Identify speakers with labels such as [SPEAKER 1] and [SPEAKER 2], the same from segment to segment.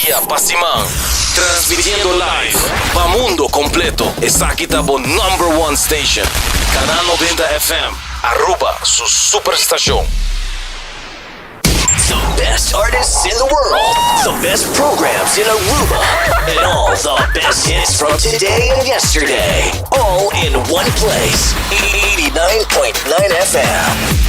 [SPEAKER 1] y a pa siman. Transmitiendo live pa mundo completo esaki ta bo number one station Canal noventa FM Aruba su super stacion.
[SPEAKER 2] The best artists in the world, the best programs in Aruba, and all the best hits from today and yesterday, all in one place, 89.9 FM.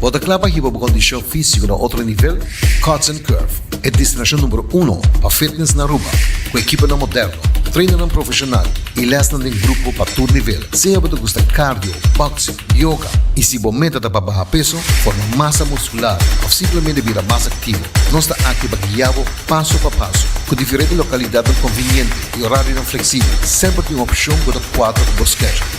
[SPEAKER 3] Bo ta kla pa hiba bo kondishon físiko na otro nivel? Cuts and Curve, e destinashon numero uno pa fitness na Aruba, ku ekiponan moderno, trainannan profeshonal i lèsnan den grupo pa tur nivel. Sea bo ta gusta cardio, boxing, yoga i si bo meta ta pa baha peso, forma masa muskular òf simplemente bira mas aktivo, nos ta aki pa guia bo paso pa paso. Ku diferente lokalidatnan konviniente i orarionan fleksibel, semper tin un opshon ku ta kuadra ku bo schedule.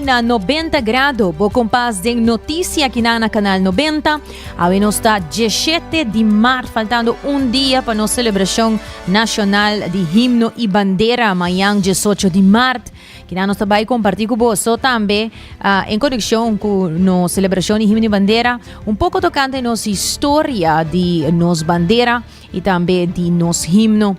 [SPEAKER 4] Na Nobenta Grado, bo kompas den notisia ki na na Kanal Nobenta. Awe nos ta dieshete di mart, faltando un dia pa nos selebrashon nashonal di himno i bandera mañan diesocho di mart, ki na nos ta bai kompartí ku bo. So tambe en konekshon ku nos selebrashon di himno i bandera, un poko tokante nos historia di nos bandera. y tambe di nos himno.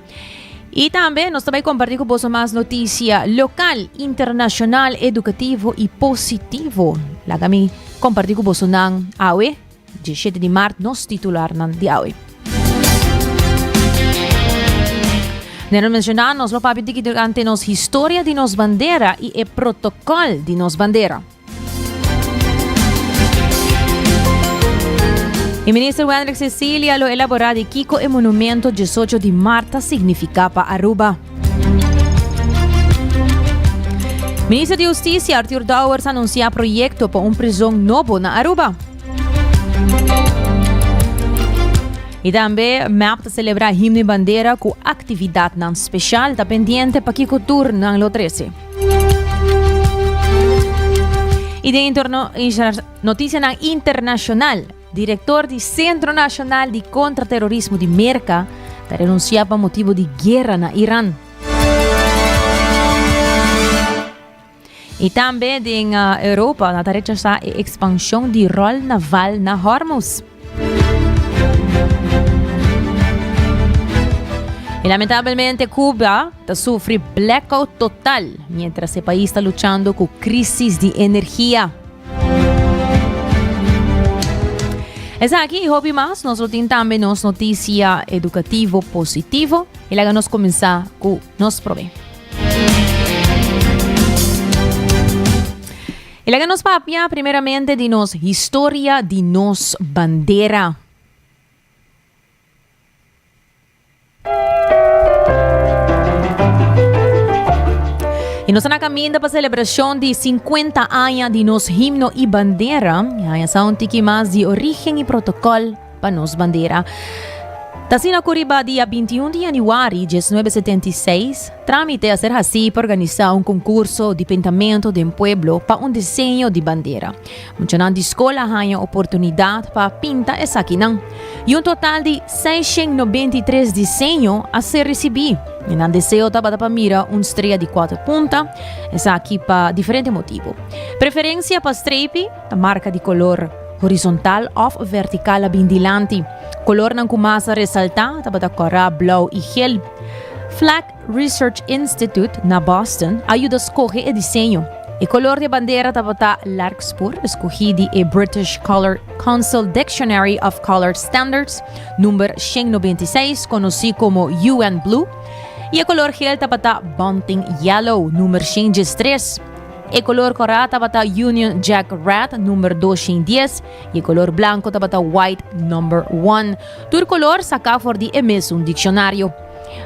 [SPEAKER 4] Y tambe nos ta bay comparti cu boso mas noticia local, internacional, educativo y positivo. Laga mi comparti cu boso nan awe, 17 di maart, nos titular nan di awe. Nero menciona nos lo papi diki durante nos historia di nos bandera y e protocol di nos bandera. E minister Wendrick Cecilia lo elabora di kiko e monumento diesocho di maart ta significa pa Aruba. Minister di Husticia Arthur Dowers anuncia proyecto pa un prison nobo na Aruba. Y tambe MEP ta celebra himno y bandera cu actividadnan special. Ta pendiente pa kiko tur nan lo trece. Y den interno, noticianan internacional. Director di Centro Nacional di Contraterrorismo di Merca ta renuncia pa motibo di guerra na Iran. Y tambe den Europa na ta rechasa e expansion di rol naval na Hormuz. Y lamentabelmente Cuba ta sufri blackout total mientras e país ta luchando cu crisis di energia. Esaki y hopi mas nos lo tin tambe nos noticia educativo positivo y laga nos comensa cu nos prome. E laga nos papia primeramente di nos historia di nos bandera. Y nos ta na caminda pa celebracion di cincuenta aña di nos himno y bandera. Haña sa un tiki mas di origen y protocol. pa nos bandera. Ta asina cu riba dia 21 di januari 1976, trámite a ser hací pa organizá un concurso di pintamento den pueblo pa un diseño di bandera. Muchanan di scol a haña oportunidad pa pinta esakinan, y un total di 693 diseño a ser recibí, y nan deseo tabata pa mira un strea di cuater punta, esaki pa diferente motibo. Preferencia pa strepi. Ta marka di kolor, horizontal òf vertikal a bin dilanti. Kolornan ku mas a resaltá tabata kòrá, blou i hel. Flack Research Institute na Boston a yuda skohe e diseño. E kolor di e bandera tabata Larkspur, skohí di e British Colour Council Dictionary of Colour Standards, number shen nobenta i seis, konosí komo UN Blue, i e kolor hel tabata Bunting Yellow, number shen diestres. E kolor kòrá tabata Union Jack Red number dos shin dies y e kolor blanko tabata White number one. Tur kolor saká for di e mesun dikshonario.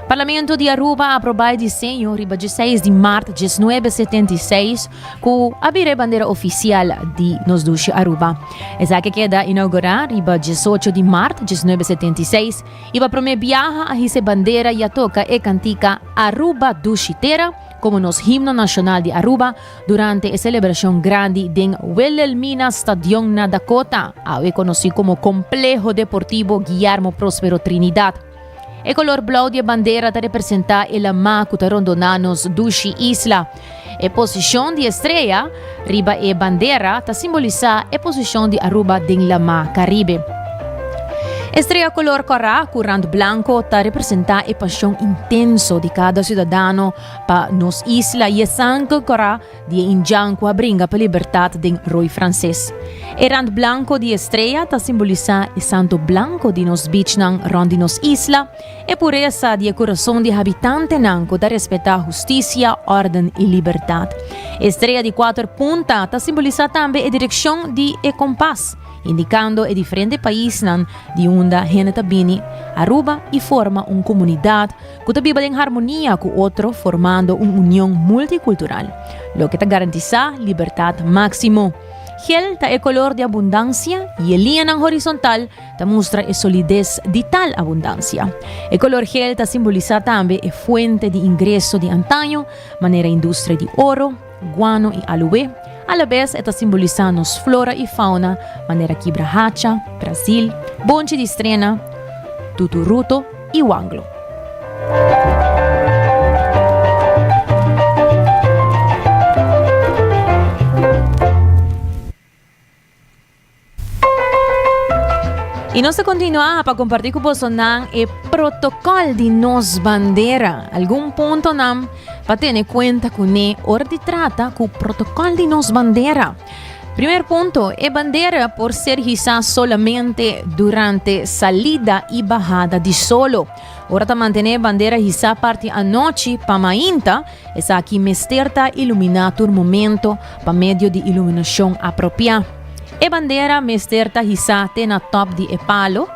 [SPEAKER 4] Parlamento di Aruba a aprobá e diseño riba dje seis di mart djes nuebe setenta i seis ku a bira e bandera ofisial di nos dushi Aruba. Esaki a keda inaugurá riba djes ocho di mart djes nuebe setenta i seis y pa promé biaha a hisa e bandera y a toka e kantika Aruba dushi tera, Como nos himno nacional di Aruba durante e celebracion grandi den Wilhelmina Stadion na Dakota, awe conoci como Compleho Deportivo Guillermo Prospero Trinidad. E color blauw di e bandera ta representa e lama cu ta rondona nos dushi isla. E posicion di e strea. Riba e bandera ta simbolisá e posishon di Aruba den Lamá Karibe. E strea kolor kòrá ku rand blanko ta representá e pashon intenso di kada siudadano pa nos isla i e sangre kòrá di e indjan ku a bringa pa libertat den Roi Franses. E rand blanko di e strea ta simbolisá e santo blanko di nos bichnan rònt di nos isla, E puresa di e kurason di habitantenan ku ta respetá hustisia, órden i libertat. E strea di kuater punta ta simbolisá tambe e direkshon di e kompas, indikando e diferente paisnan di unda hende ta bini Aruba i forma un komunidat ku ta biba den harmonia ku otro formando un union multikultural, loke ta garantisá libertat máksimo. Gel ta e kolor di abundansia i e liñanan horisontal ta mustra e solides di tal abundansia. E kolor gel ta simbolisá tambe e fuente di ingreso di antaño, manera industria di oro, guano i alué, alabes e ta simbolisá nos flora i fauna, manera kibra hacha, Brazil, bonchi di strena, tuturuto i wanglo. Y nos ta continua pa comparti cu bosonan e protocol di nos bandera. Algun puntonan pa tene cuenta cu ne or di trata cu protocol di nos bandera. Primer punto, e bandera por ser hisa solamente durante salida y bahada di solo. Ora ta mantene e bandera hisa parti anochi pa mainta, Esaki mester ta iluminá tur momento pa medio di iluminashon apropiá. E bandera mester ta hisá te na tòp di e palo,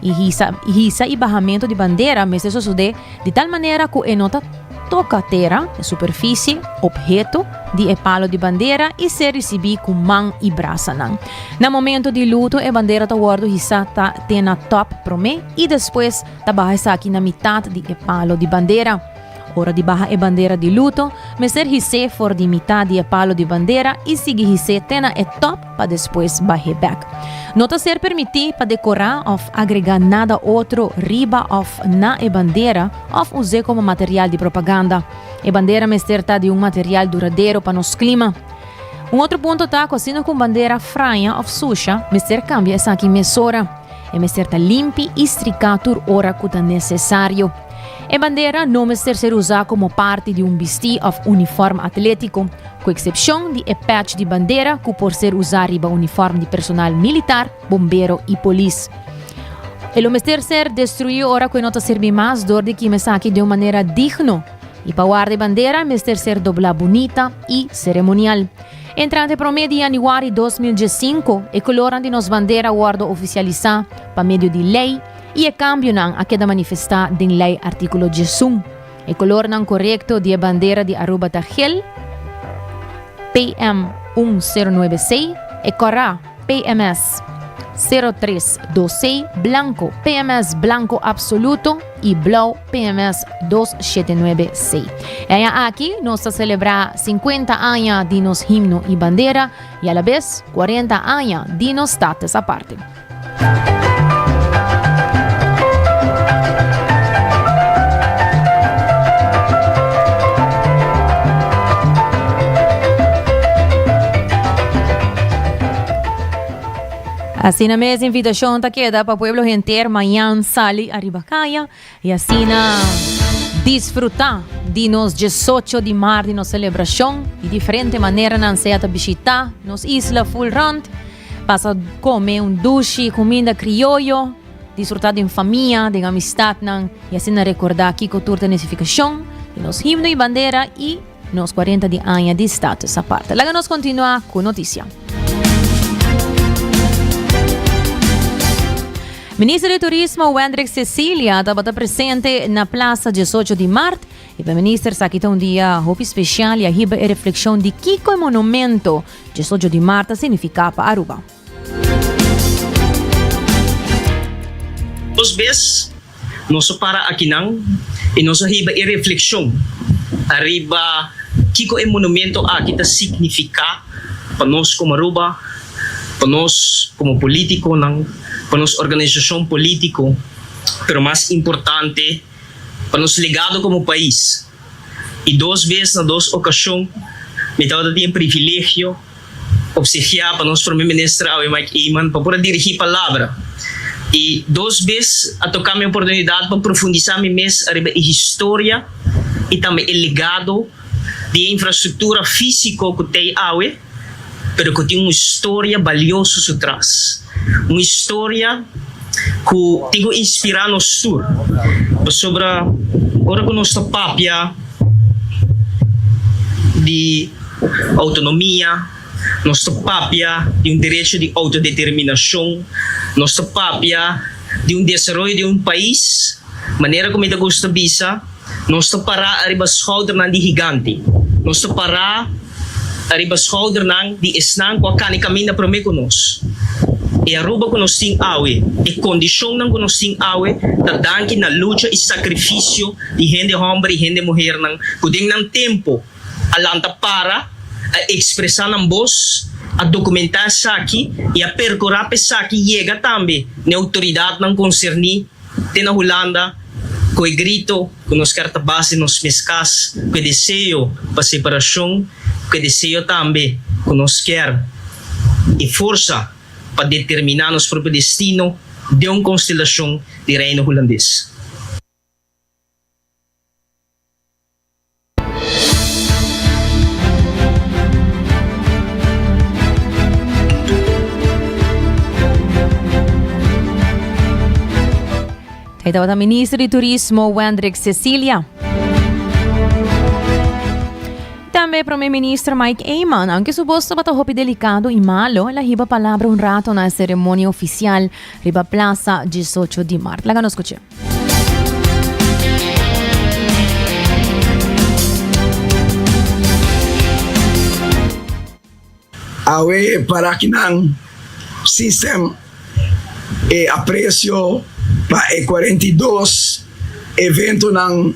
[SPEAKER 4] i hisa hisa i bahamentu di bandera mester sosodé di tal manera ku e no ta toka tera, superfisie, opheto di e palo di bandera i ser risibí ku man i brasanan. Na momento di luto e bandera ta wòrdu hisá ta te na tòp promé i despues ta baha esaki na mitat di e palo di bandera. Ora di baha e bandera di luto, mester his'é for di mitat di e palo di bandera i sigui his'é te na e tòp pa despues bah'é bèk. No ta ser permití pa dekorá òf agregá nada otro riba òf na e bandera òf us'é komo material di propaganda. E bandera mester ta di un material duradero pa nos klima. Un otro punto ta ku asina ku un bandera fraña òf susha, mester kambia esaki mesora. E mester ta limpi i stricá tur ora cu ta necesario. E bandera no mester ser usá como parti di un bistí of uniform atlético, cu excepcion di e patch di bandera cu por ser usá riba uniform di personal militar, bombero i polis. E lo mester ser destruí ora cu e no ta serbi mas dor di kima esaki den un manera digno. I pa warda e bandera mester ser doblá bunita i ceremonial. Entrante e promé di yanüari dos mil dies sinku, e kulornan di nos bandera a wòrdu ofisialisá pa medio di lei i e kambionan a keda manifestá den Lei Artíkulo diesun. E kulornan korekto di e bandera di Aruba ta gel, PM un sero nuebe sei, e kòrá, PMS, sero tres dos sei, blanko, PMS blanko apsoluto i blou, PMS dos shete nuebe sei. E aña aki nos ta selebrá sinkuenta aña di nos himno i bandera i alabes kuarenta aña di nos status aparte. Asina mes invitacion ta keda pa pueblo henter mañan sali ariba kaya y asina disfruta di nos diesocho di mar di nos celebracion y diferente maneranan sea ta bishita nos isla full rond pasa come un dushi cuminda crioyo disfruta den famia den amistadnan y asina recorda kico tur ta nificacion di nos himno y bandera y. Nos cuarenta di aña di status aparte. Laga nos continua cu noticia. Minister di Turismo Wendrick Cecilia tabata presente na Plaza 18 di Mart y pa minister sa kita un dia hopi special y a hiba e reflexion di kico e monumento 18 di Mart ta significa pa Aruba.
[SPEAKER 5] Dos bes nos a para akinan i nos a hiba e reflekshon ariba kiko e monumento aki ta signifiká pa nos komo Aruba, pa nos komo polítikonan, pa nos organisashon polítiko, pero mas importante pa nos legado komo pais. I dos bes na dos okashon mi tabata tin e privilegio. Obsegiá pa nos Prome Minister awe Mike Eman pa por a dirigí palabra i dos bes a toká mi oportunidat pa profundisá mi mes ariba e historia i tambe e legado di e infrastruktura físiko ku t'ei awe pero ku tin un historia balioso su tras. Un historia cu tin cu inspira nos tur, pasobra ora cu nos ta papia di autonomia, nos ta papia di un derecho di autodeterminacion, nos ta papia di un desaroyo di un pais, manera cu mi ta gusta bisa, Nos ta pará ariba schoudernan di higante. Nos ta pará ariba schoudernan di esnan cu a cana y caminda promé cu nos. E Aruba cu nos tin awe, e condicionnan cu nos tin awe, ta danki na lucha y sacrificio di hende homber y hende muhernan cu den nan tempo a lanta para, a expresa nan boz, a documenta esaki y a percura pa esaki yega tambe na e autoridadnan concerni. te na Hulanda ku e grito ku nos ker ta base nos mes kas, ku e deseo pa separashon, ku e deseo tambe ku nos ker e forsa pa determiná nos propio destino den un konstelashon di Reino Hulandes.
[SPEAKER 4] E tabata minister di Turismo Wendrick Cecilia. Tambe prome minister Mike Eman, anke su bos tabata hopi delikado i malo, la hiba palabra un rato na e seremonia ofisial riba plasa 18 di mart. Laga nos kuch'e.
[SPEAKER 6] Awe e parakinan system e aprecio pa e cuarenta y dos eventonan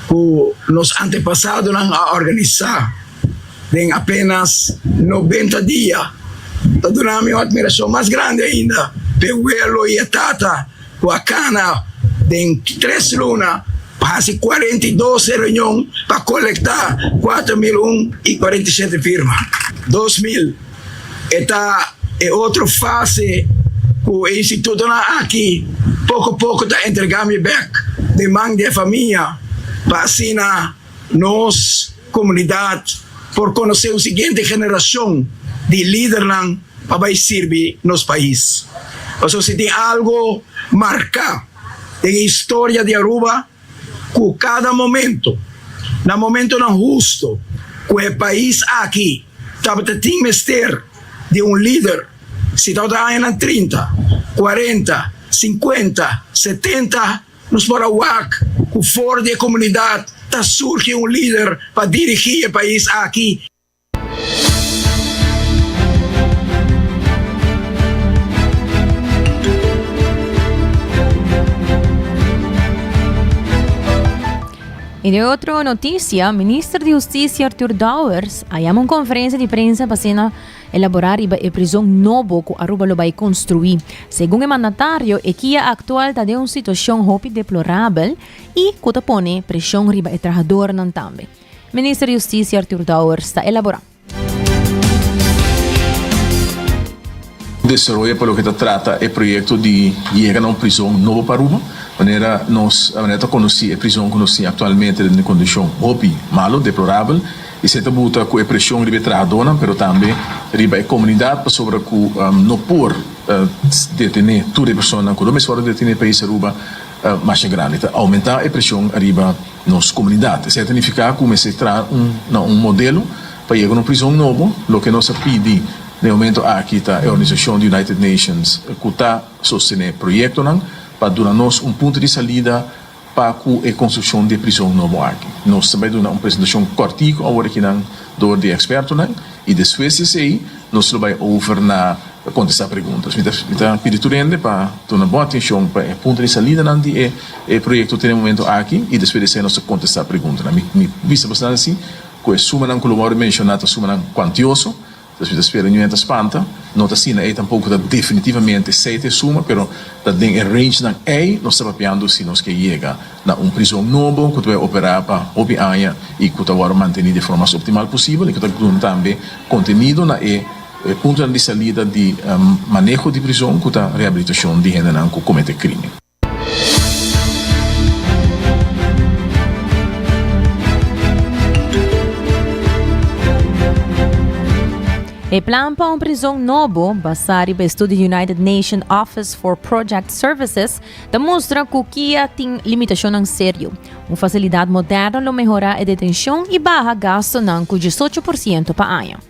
[SPEAKER 6] cu nos antepasadonan a organisa den apenas noventa dia ta dunami un admiracion mas grandi ainda p'e welo y e tata Cu a cana den tres luna pa haci cuarenta y dos reunion pa colecta cuatro mil un y cuarenta y siete firma. Dos mil e ta e otro fase cu e institutonan aki poco poco ta entrega mi bek den man di e famia pa asina Nos komunidat por konosé un siguiente generashon di lidernan pa bai sirbi nos pais. Pasobra si tin algu marká den e historia di Aruba ku kada momento, na momentunan hustu ku e pais aki tabata tin mester di un lider, si tabata añanan trinta, kuarenta, sinkuenta, setenta, Nos por a wak cu for di e comunidad ta surgi un lider pa dirigi e pais aki.
[SPEAKER 4] I den otro noticia, Minister di Husticia Arthur Dowers a yama un conferencia di prensa pa siña. Elaborá riba e prizon nobo ku Aruba lo bai konstruí. Segun e mandatario, e kia aktual ta den un situashon hopi deplorabel i ku ta pone preshon riba e trahadornan tambe. Minister di Hustisia Artur Dowers ta elaborá.
[SPEAKER 7] Desaroya pa loke ta trata e proyekto di yega na un prizon nobo pa Aruba. Manera nos manera ta konosí e prizon ku nos tin aktualmente den e kondishon hopi malu, deplorabel. Esei ta buta ku e preshon riba e trahadónan pero tambe riba e komunidat pasobra ku no por detené tur e personanan ku lo mes wòrdu detené país Aruba masha grandi. Ta oumentá e preshon ariba nos komunidat. Esei ta nifiká ku mester traha na un modelo pa yega un prizon nobo. Loke nos a pidi na e momentu aki ta e organisashon di United Nations ku ta sostené proyektonan pa duna nos un punto di salida. pa cu e construccion di e prison nobo aki. Nos ta bay duna un presentacion cortico awor aki nan door di expertonan y despues di esey nos lo bay over na contesta preguntas. Mi ta mi ta pidi tur hende pa duna bon atencion pa e punto di salidanan di e e proyecto te den momento aki y despues di esey nos ta contesta preguntanan. Mi mi bisa basnan si cu e sumanan cu lo wou menciona ta sumanan cuantioso. Pues mi ta spera New Year ta spanta, no ta asina ei tampoco ta definitivamente esei ta e suma, pero ta den e rangenan ei nos ta papiando si nos ke yega na un prizon nobo cu ta bay opera pa hopi aña y cu ta wordo manteni di e forma mas optimal posibel y cu ta grun tambe contenido na e puntonan di salida di maneho di prizon cu ta rehabilitacion di hendenan cu comete crimen.
[SPEAKER 4] E plan pa un prizon nobo, basá riba e studi United Nation Office for Project Services, ta mustra ku kia tin limitashonnan serio. Un fasilidat moderno lo mehorá e detenshon i baha gastunan ku diesocho por siento pa aña.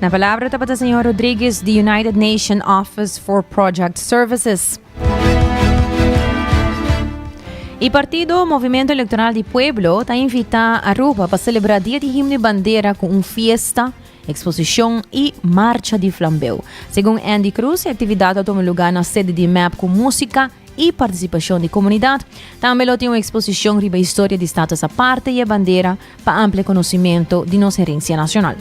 [SPEAKER 4] Na palabra tabata señor Rodriguez di United Nation Office for Project Services. Y partido Movimiento Electoral di Pueblo ta invita Aruba pa celebra Dia di Himno y Bandera cu un fiesta Eksposishon i Marcha di Flambeu. Segun Andy Cruz, e aktividat lo tuma lugá na sede di mep ku músika i partisipashon di komunidat. Tambe lo tin un eksposishon riba historia di Status Aparte i e bandera pa amplia konosimentu di nos herensia nashonal.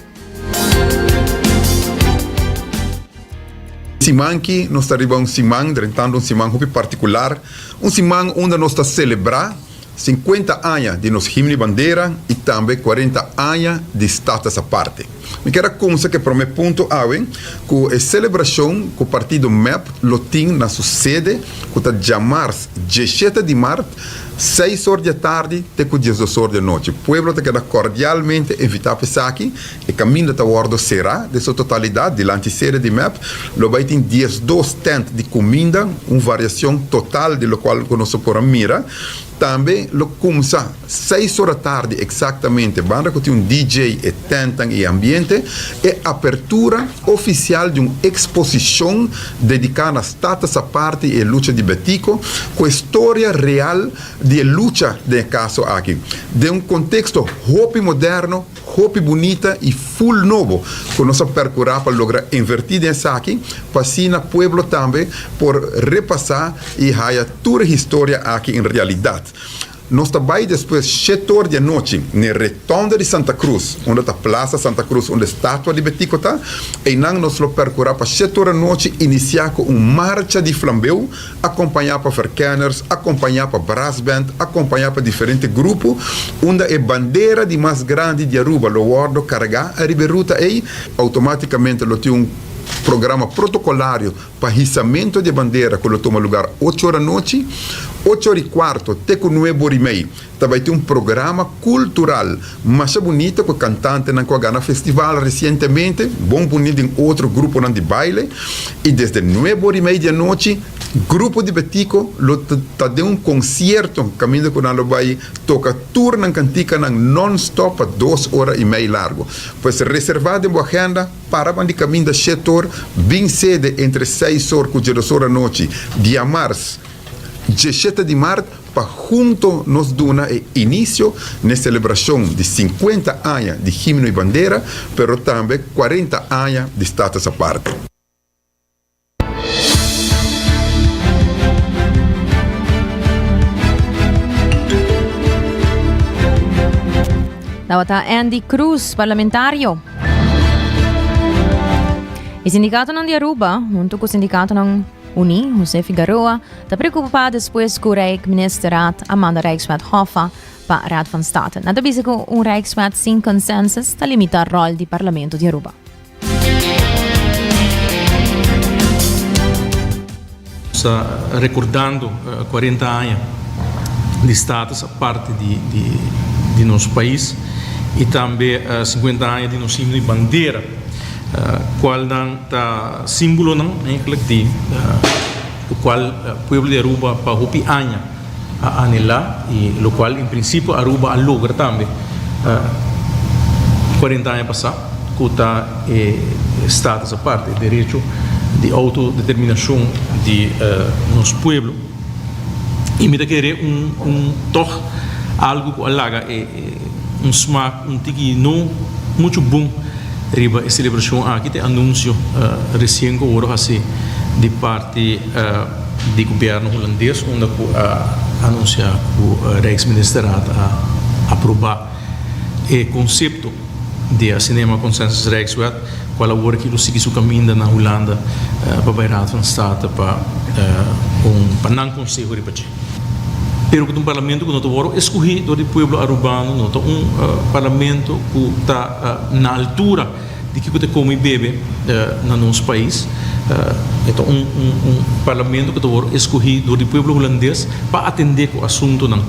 [SPEAKER 8] Simanki nos ta riba un siman, drentantu un siman hopi partikular, un siman unda nos ta selebrá. Sinkuenta aña di nos himno i bandera i tambe kuarenta aña di status aparte. Mi ker a kumsa ku e promé punto awe ku e selebrashon ku partido mep lo tin na su sede ku ta djamars dieshete di mart seis or di atardi te ku diesdos or di anochi. Pueblo ta keda kordialmente invitá pa esaki E kaminda ta wòrdu será den su totalidat dilanti sede di mep. Lo bai tin diesdos tènt di kuminda, un variason total di lokual ku nos a por a mira. Tambe lo kumsa seis ora tardi eksaktamente, banda ku tin un DJ e tèntnan i ambiente, e apertura ofisial di un eksposishon dediká na Status Aparte i e lucha di Betiko, ku e storia real di e lucha den e kaso aki, den un konteksto hopi moderno. Hopi bunita y full nobo cu nos a percura pa logra inverti den esaki pa asina pueblo tambe por repasa y haya tur e historia aki en realidad. Nos ta bay despues shet or di anochi n'e Retonda di Santa Cruz, unda ta Plaza Santa Cruz unda e statua di Betico ta, eynan nos lo percura pa shet or anochi inicia cu un marcha di flambeu, akompañá pa verkenners, akompañá pa brassband, akompañá pa diferente grupo, unda e bandera di mas grandi di Aruba lo wòrdu kargá ariba e ruta ei, outomátikamente lo tin un programa protokolario pa hisamento di e bandera ku lo tuma lugar ocho ora nochi, ocho ora i kuarto te ku nuebe ora i mei. Ta bai tin un programa cultural masha bunita cu e cantantenan cu a gana festival recientemente, bon por uni den otro gruponan di baile y desde nuebe ora y media di anochi Grupo di Betico lo ta den un concierto caminda cu nan lo bai toca tur nan cantikanan non-stop pa dos ora y mei largo. Pues reserva den bo agenda para bandi caminda shetor bin sede entre seis or cu dje dos or anochi diamars djeshete di maart. Pa hunto nos duna e inicio n'e celebracion di cincuenta aña di Himno y Bandera, pero tambe cuarenta aña di Status Aparte.
[SPEAKER 4] Tabata Andy Cruz, parlamentario. E sindicatonan di Aruba, hunto cu sindicatonan. Uní, José Figaroa, ta preokupá despues ku Rijksministerraad a manda Rijkswet Hoffa pa Raad van State. Nan ta bisa ku un Rijkswet sin konsensus ta limitá ròl di Parlamento di Aruba. Nos
[SPEAKER 9] ta rekordando kuarenta aña di status aparte di nos pais i tambe sikuenta aña di nos himno i bandera. Cualnan ta símbolonan eigenlijk di locual pueblo di Aruba pa hopi aña a anhelá i locual en principio Aruba a logra tambe cuarenta aña pasá cu ta e status aparte, e derecho di autodeterminacion di nos pueblo. y mi ta kere un un tog algo cu a laga e un smaak un tiki no mucho bon riba e celebracion aki ta e anuncio recien cu a worde haci di parti di gobierno Hulandes unda cu a anuncia cu Rijksministerraad a aproba. E konsepto di a Cinema Consensus Rijkswet, kual awor kilo sigui su kaminda na Hulanda pa bai Raad van State pa un pa nan konseho riba dje. Pero ku ta un parlamento ku no ta wòrdu eskohé dor di pueblo arubano, no ta un parlamento ku ta na altura. Di ki ku ta komo i bebe na nos pais. E ta un parlamento ku ta wòrdu eskohí dor di pueblo hulandes pa atendé ku asuntunan.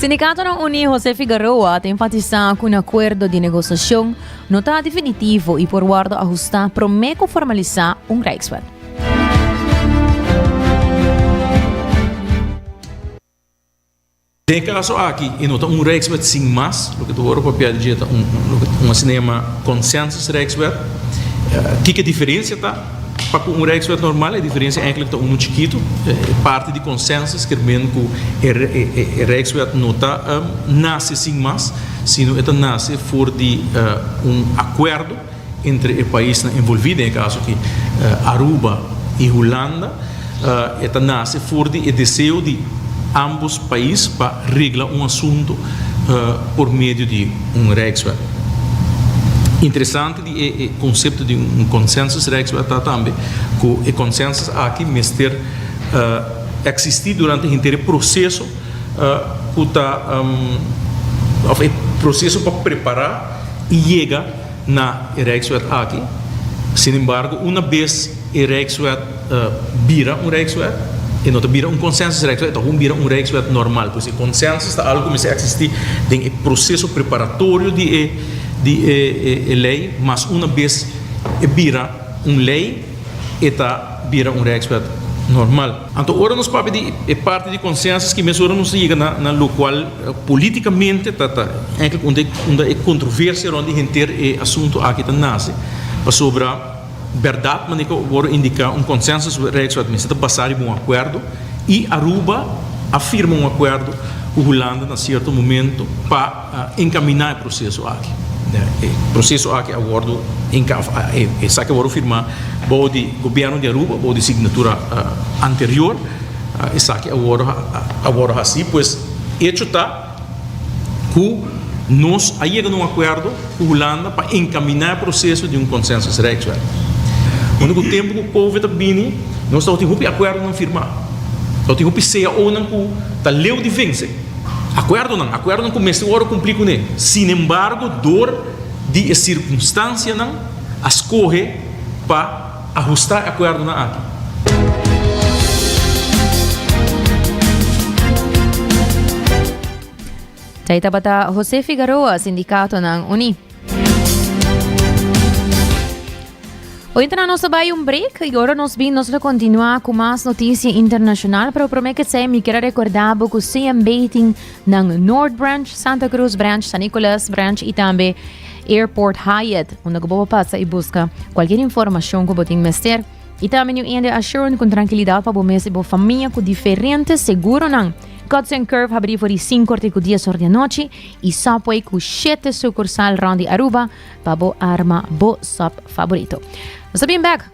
[SPEAKER 4] Sindikatonan Uní José Figaroa ta enfatisá ku un akuerdo di negosiashon no ta definitivo i por wòrdu ahustá promé ku formalisá un Rijkswet.
[SPEAKER 9] Den e kaso aki e no ta un Rijkswet sin mas, loke ta wòrdu papiá di dje ta un un asinema Consensus-Rijkswet. Kiko e diferensia ta? Pa ku un Rijkswet normal e diferensia enklik ta unu chikitu, e parti di Consensus kier mende ku e e Rijkswet no ta nase sin mas, sino e ta nase for di un akuerdo. Entre e paisnan envolví den e kaso aki, Aruba i Hulanda, e ta nase for di e deseo di ámbos pais pa regla un asuntu por medio di un rijkswet. Interesante di e konsepto di un konsènsusrijkswet ta tambe ku e konsènsus aki mester eksistí durante henter e proseso ku ta òf e proseso pa prepará i yega na e Rijkswet aki. Sinembargo, una bes e Rijkswet bira un Rijkswet, e no ta bira un Consensusrijkswet, e ta hopi bira un Rijkswet normal. Pues e consensus ta algu ku mester eksistí den e proseso preparatorio di e di e e lei, mas una bes e bira un lei e ta bira un Rijkswet normal. Anto ora nos papia di e parti di consensus ki mesora nos ta yega na lokual Politicamente ta ta eindelijk unda unda e controversia rond di henter e asunto aki ta nace. Pasobra berdad manera cu a worde indica un consensus with Rijkswet mester ta basa riba un acuerdo y Aruba a firma un acuerdo cu Hulanda na cierto momento pa encamina e proceso aki. E proceso aki a worde enca esaki a worde firma bao di gobierno di Aruba bao di signatura anterior. Esaki a wòrdu hasí pues echo ta ku nos a yega na un akuerdo ku Hulanda pa enkaminá e proseso di un Consensus Rijkswet. Unda ku tempu ku Covid a bini nos tabata tin hopi akuerdonan firmá, tabata tin hopi CAOnan ku ta leu di vense, akuerdonan, akuerdonan ku mester wòrdu kumplí kuné. Sinembargo dor di e sirkunstansianan a skohe pa. Ahusta e akuerdonan aki.
[SPEAKER 4] Djay tabata Jose Figaroa sindicatonan uní. Oyentenan nos a bay un break y ora nos bin nos lo continua cu mas noticia internacional pero prome que se mi quiero recorda bo cu CMB tin nan North Branch, Santa Cruz Branch, San Nicolas Branch y tambe Airport Hyatt, unda ku bo por pasa i buska kualkier informashon ku bo tin mester. I tambe New India Assurant ku trankilidat pa bo mes i bo famia ku diferente seguronan. Cuts and Curve habrí for di sinkor te ku dies or di anochi i Subway ku shete sukursal rònt di Aruba pa bo arma bo sòp favorito. Nos ta bin bèk!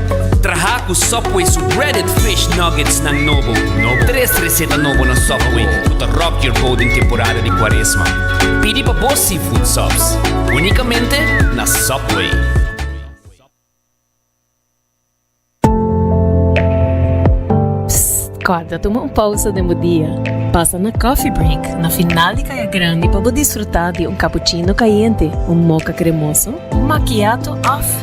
[SPEAKER 10] Traha ku Subway su breaded fish nuggets nan nobo. Tres reseta nobo na Subway ku ta rock your boat den temporada di Kuaresma. Pidi pa bo seafood subs únikamente na Subway. Psst!
[SPEAKER 11] Kòrda tuma un pausa den bo dia. Pasa na Coffee Break na final di Kaya Grandi pa bo disfrutá di un kapuchino kayente, un moka kremoso, un makiato òf.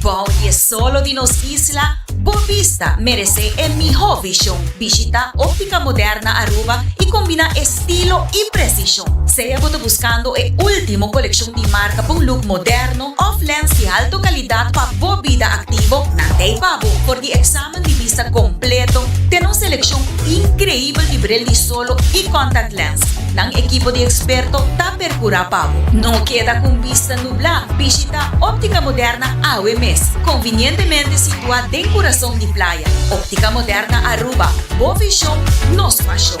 [SPEAKER 12] Bou di e solo di nos isla, Bo bista merece e miho vision. Bishita Optica Moderna Aruba y combina estilo y precision. Sea bo ta buscando e ultimo coleccion di marca pa un look moderno of lens di alto calidad pa bo bida activo, nan ta ey pa bo. For di examen di bista completo, tene un seleccion increibel di bril di solo y contact lens. Nan ekipo di eksperto ta perkurá pa bo. No keda ku un bista nublá. Bishitá Óptica Moderna awe mes, konvinientemente situá den kurason di playa. Óptica Moderna Aruba, bo vishon, nos pashon.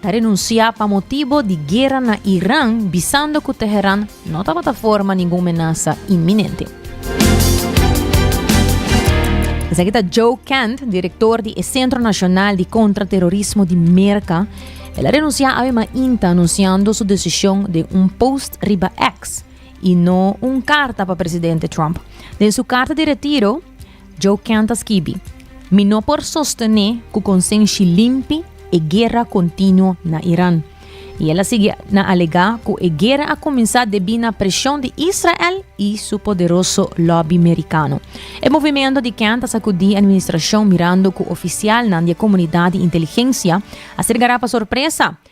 [SPEAKER 4] ta renunsiá pa motibu di guera na Iran bisando ku Teheran no tabata forma ningun menasa inminente. Esaki ta Joe Kent, direktor di e Sentro Nashonal di Kontraterorismo di Merka. El a renunsiá awe mainta anunsiando su desishon den un post riba X i no un karta pa presidente Trump. Den su karta di retiro, Joe Kent a skibi, Mi no por sostené ku konsenshi limpi e guera kontinuo na Iran. I el a sigui na alegá ku e guera a kuminsá debí na preshon di Israel i su poderoso lòbi merikano. E movimento di Kent a sakudí administrashon mirando ku ofisialnan di e komunidat di inteligensia a ser gará pa sorpresa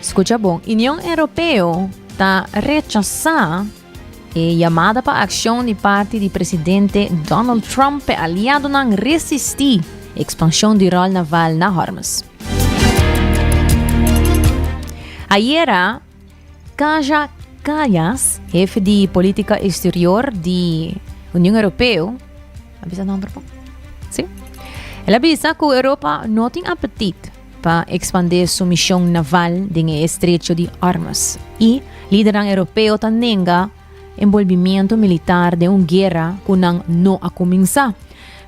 [SPEAKER 4] Scucha bon, Union Europeo ta rechasá e yamada pa accion di parti di Presidente Donald Trump p'e aliadonan resistí expansion di rol naval na Hormuz. Ayera, Kaja Kallas, hef di politica exterior di Union Europeo, a bisa nomber bon? Sí? El a bisa cu Europa no tin apetit pa ekspandé su mishon naval den e estrecho di Ormuz i lidernan europeo ta nenga enbolbimiento militar den un guera ku nan no a kuminsá.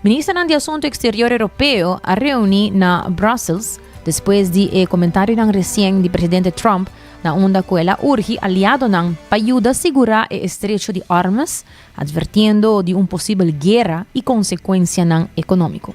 [SPEAKER 4] Ministernan di Asuntu Eksterior Europeo a reuni na Brussels despues di e komentarionan resien di presidente Trump na unda ku el a urgi aliadonan pa yuda sigurá e estrecho di Ormuz, advertiendo di un posibel guera i konsekuensianan ekonómiko.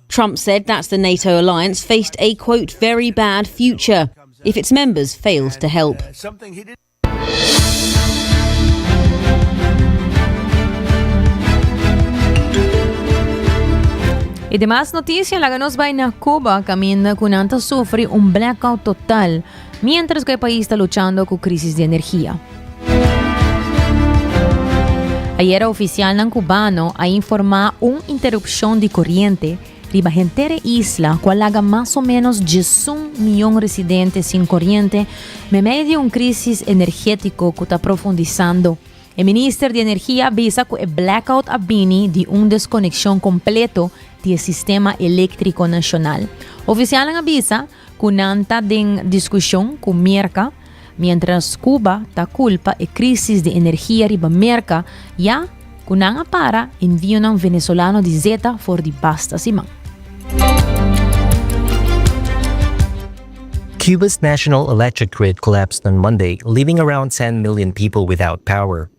[SPEAKER 13] Trump said that's the NATO alliance faced a quote very bad future if its members failed to help.
[SPEAKER 4] I di mas noticia laga nos bai na Cuba caminda cu nan ta sufri un blackout total. Mientras cu e pais ta luchando cu crisis di energia. Ayera oficialnan cubano a informa un interrupcion di coriente riba henter e isla cu a laga mas o menos diesun miyon residente sin coriente memeyo di un crisis energetico cu ta profundisando. E minister di energia a bisa cu e blackout a bini di un desconeccion completo di e sistema electrico nacional. Oficialnan a bisa Cu nan ta den discusion cu Merca, mientras Cuba ta culpa e crisis di energia riba Merca, ya cu nan a para envionan Venezolano di zeta for di basta siman.
[SPEAKER 14] Cuba's national electric grid collapsed on Monday, leaving around ten million people without power.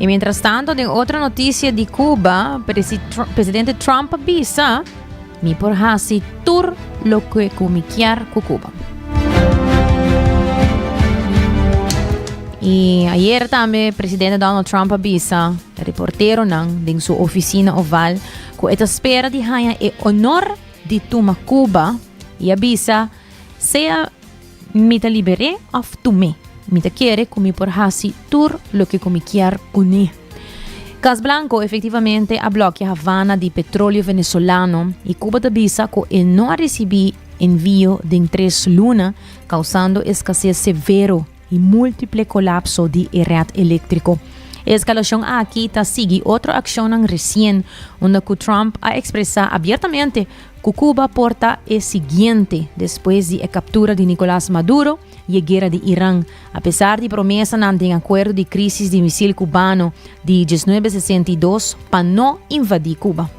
[SPEAKER 4] Y mientras tanto, den otro noticia di Cuba, presidente Trump bisa, mi por hasi tur lo que cu mi kier cu Cuba. Y ayer también presidente Donald Trump bisa reportero nan den su oficina oval ku e ta spera di haña e onor di tuma Kuba, i a bisa, Sea mi ta liber'é òf tum'é, mi ta kere ku mi por hasi tur loke ku mi kier uní. Kas Blanko efektivamente a blokia Havana di petroleo venezolano i Kuba ta bisa ku e no a risibí envio den tres luna, kausando eskasés severo y múltiple colapso di e red eléctrico. E escalacion aki ta sigui otro accionnan recien unda cu Trump a expresa abiertamente cu Cuba por ta e siguiente despues di e captura di Nicolas Maduro y e guera di Iran, apesar di promesanan den acuerdo di crisis di misil cubano di dieznuebe sesenta i dos pa no invadi Cuba.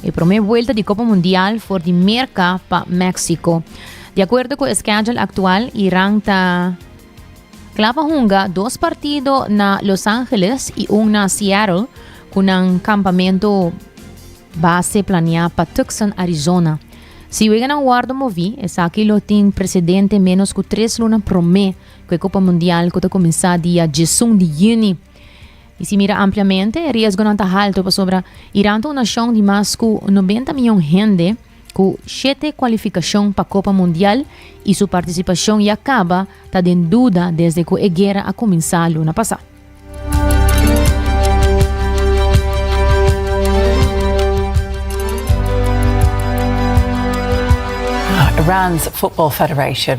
[SPEAKER 4] E prome buelta di Copa Mundial for di Merca pa Mexico. De acuerdo cu e schedule actual, Iran ta Kla pa hunga dos partido na Los Angeles i un na Seattle ku nan kampamento base planeá pa Tucson, Arizona. Si weganan wordo moví, esaki lo tin presidente menos ku tres luna promé ku e Kopa Mundial ku ta kuminsá dia 11 di Juni. I si mira ampliamente, e riesgonan ta haltu pasobra Iran ta un nashon di mas ku nobenta mion hende ku shete kualifikashon pa Kopa Mundial i su partisipashon ya kaba ta den duda desde ku e guera a kuminsá luna pasá.
[SPEAKER 3] Iran's Football Federation,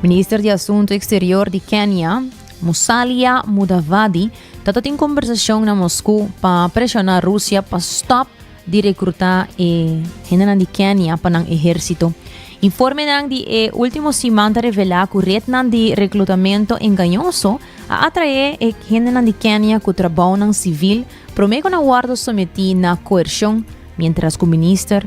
[SPEAKER 4] Minister di Asunto Eksterior di Kenia, Musalia Mudavadi, tatatin kombersashon na Moskou pa preshona Rusia pa stop di rekruta e hendenan di Kenia pa nan ehersito. Informenan di e ultimo siman ta revela ku retnan di reklutamento engañoso a atrae e hendenan di Kenia ku trabounan sivil prome ku na wordo someti na koershon, mientras ku minister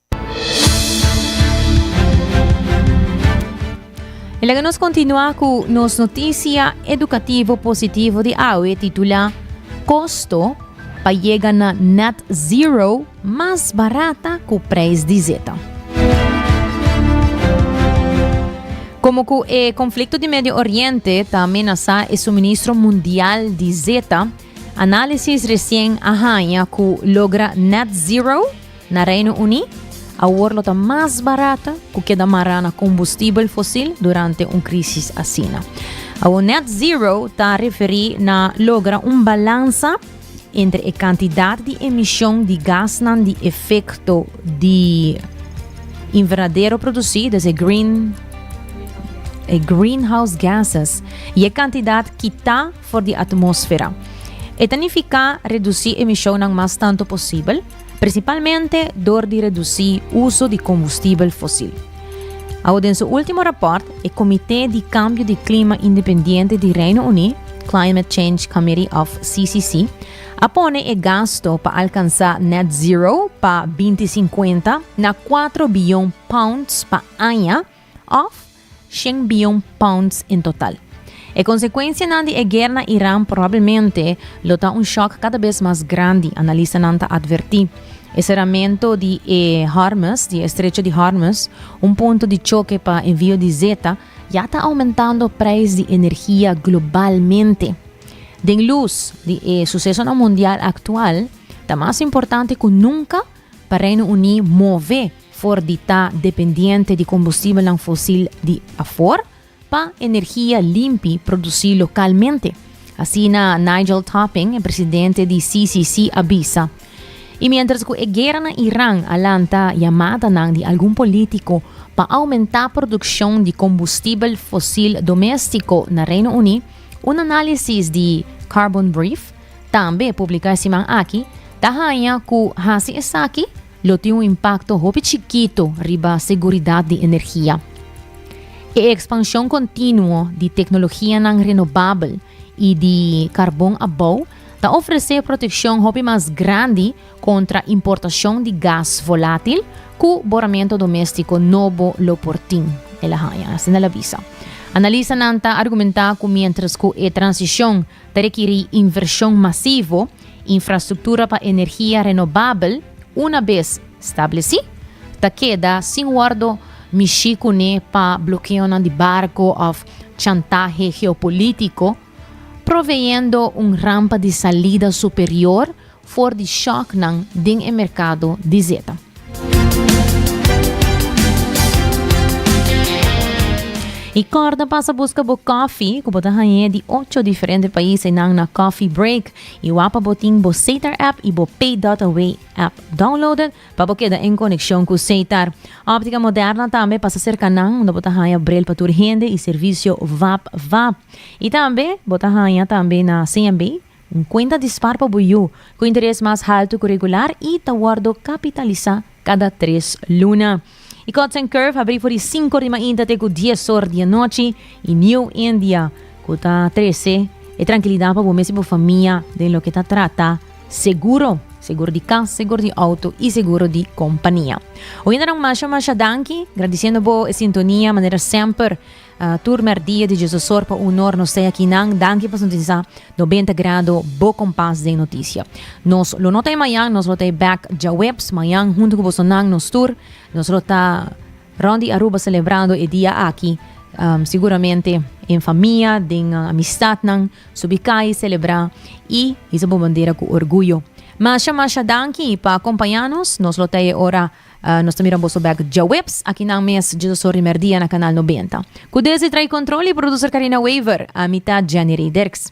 [SPEAKER 4] E laga nos kontinua ku nos notisia edukativo positivo di awe titula Kosto pa yega na net zero mas barata ku preis di zeta. Komo ku e konflikto di Medio Oriente ta amenasá e suministro mundial di zeta, análisis resien a haña ku logra net zero Na Reino Uní, awor lo ta mas barat ku keda mará na kombustibel fosil durante un krisis asina. Awor net zero ta referí na logra un balansa entre e kantidat di emishon di gasnan di efekto di invernadero produsí, dus e green, e greenhouse gases, i e kantidat kitá for di atmósfera. E ta nifiká redusí emishonnan mas tantu posibel. Prinsipalmente dor di redusí uso di kombustibel fosil. Awo den su último rapòrt, e Komité di Kambio di Klima Independiente di Reino Uní, Climate Change Committee of CCC, a pone e gasto pa alkansá net zero pa binti sinkuenta na kuatro biyon pounds pa aña, òf shen bion pounds en total. E konsekuensianan di e guer na Iran probablemente lo ta un shòk kada bes mas grandi, analistanan ta atvertí. E seramentu di e Hormuz, di e Estrecho di Hormuz, un punto di choke pa envio di zeta, ya ta oumentando preis di energia globalmente. Den lus di e susesonan mundial aktual, ta mas importante ku nunka pa Reino Uní move, for di ta dependiente di kombustibelnan fosil di afor pa energia limpi produsí lokalmente, asina Nigel Topping, e presidente di CCC, a bisa. I miéntras ku e guera na Iran a lanta yamadanan di algun polítiko pa oumentá produkshon di kombustibel fosil doméstiko na Reino Uní, un análisis di Carbon Brief, tambe publiká e siman aki, ta haña ku hasi esaki, Lo tin un impakto hopi chikitu riba seguridat di energia. E ekspanshon kontinuo di teknologianan renobabel i di karbon abou ta ofresé protekshon hopi mas grandi kontra importashon di gas volátil ku boramentu doméstiko nobo lo por tin, el a haña, asina el a bisa. Analistanan ta argumentá ku miéntras ku e transishon ta rekirí invershon masivo, Infrastruktura pa energia renobabel una bes stablesí, ta keda sin wòrdu mishí kuné pa blokeonan di barko òf chantahe geopolítiko, proveyendo un rampa di salida superior for di shòknan den e merkado di zeta. Y corda pasa busca bo coffee, cu bo ta hañé di ocho diferente países nan na Coffee Break. Y wapa bo tin bo Sater app y bo Pay.away app downloaded pa bo keda en conexión cu Sater. Optica Moderna tambe pasa cerca nan, unda bo ta haña bril pa tur hende y servicio vap vap. Y tambe bo ta haña tambe na CMB, Un cuenta dispar pa bo yu cu interes mas halto cu regular y ta wordo capitalisa cada tres luna. Y Cotsen Curve habri for di cinco di mainta te cu dies or di e nochi y New India cu ta trece e tranquilidad pa bo mes y bo famia den loke ta trata seguro, seguro di cas, seguro di auto y seguro di compania. Oyendanan masha masha danki, gradiciendo bo e sintonia manera semper. Tur merdia di Jesusor pa unor nos ta aki nan. Danki pa sintonisa Nobenta Grado bo kompas den notisia. Nos lo no ta ei mañan, nos lo ta ei bek djaweps. Mañan huntu ku boso nan nos tur nos lo ta rond di Aruba selebrando e dia aki. Siguramente en famia, den amistatnan, subi kai selebra i hisa bo bandera ku orguyo. Masha masha danki pa kompaña nos. Nos lo ta ei ora. Nos ta mira boso bek djaweps akinan mes djosor di merdia na Kanal Nobenta. Ku desi trai kontrol di Producer Karina Wever, ami ta Jenny Rey Derks.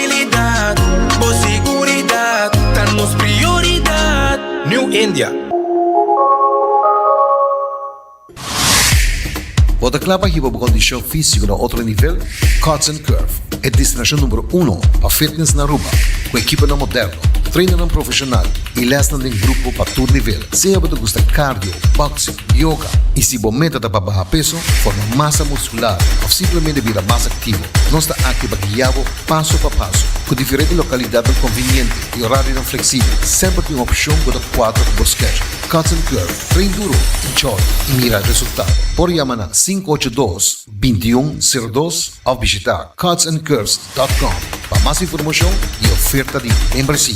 [SPEAKER 7] Stabilidad, bo seguridad ta nos prioridad. New India.
[SPEAKER 15] Bo ta kla pa hiba bo kondishon físiko na otro nivel? Cuts and Curve, e destinashon numero uno pa fitness na Aruba, ku ekiponan moderno, trainannan profeshonal i lèsnan den grupo pa tur nivel, sea bo ta gusta cardio, boxing, Yoga, y si bo meta ta pa baha peso, forma masa muscular of simplemente bira mas activo, nos ta aki pa guia bo paso pa paso. Cu diferente localidadnan conveniente y horarionan flexible, semper tin un opcion cu ta cuadra cu bo schedule. Cuts and Curve, train duro, enjoy y mira resultado. Por yama na sinku ocho dos, bintiun, sero dos of bishita cutsandcurves.com pa mas informacion y oferta di membresia.